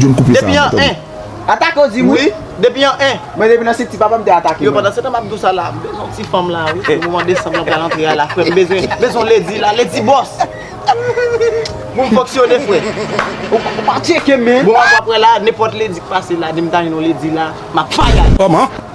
Depi an 1. Atake ou dim wi. Depi an 1. Mwen depi nan siti papa m te atake mwen. Yo pandan se tan map dou sa la m bezwen yon ti fanm la wi pou moman desanm lan pral antre a la frè m bezwen bezwen lady la lady boss pou m fonksyone frè. Ou pa tcheke men. Bon wap wè la nenpòt lady k pase la dim ta jwenn yon lady la map fire. Kòman?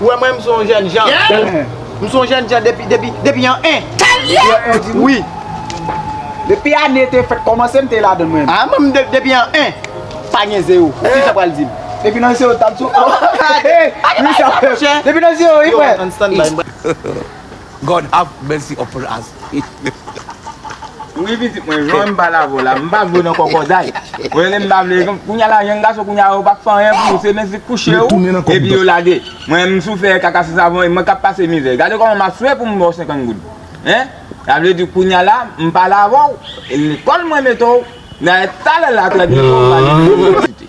Ou wè mwen m son jèn jan. M son jèn jan depi depi depi an 1. Depi an 1 ou di? Wi. Depi ane te fèt kòmanse m te ladann mwen. A mwen m depi an 1. Pa gen 0. Ou di sa pral di m. Depi nan 0 tap di w. Depi nan 0 wi frè. Yo an standby m pral. God have mercy upon us. Wi pitit mwen, jan m pale avè w la, m pa vle w nan kòkòday. Ou rele m pa vle, kounye a la jèn gason kounye a yo pa k fè anyen pou ou, se men se kouche ou epi yo lage. Mwen m sou fè kaka sou savon e mwen k ap pase mizè. Gade kòman m ap swe pou m ba w 50 goud. Hein? Sa vle di kounye a la, m pale avè w, lekòl mwen mete w, dayè talè la trè byento ou va ale inivèsite.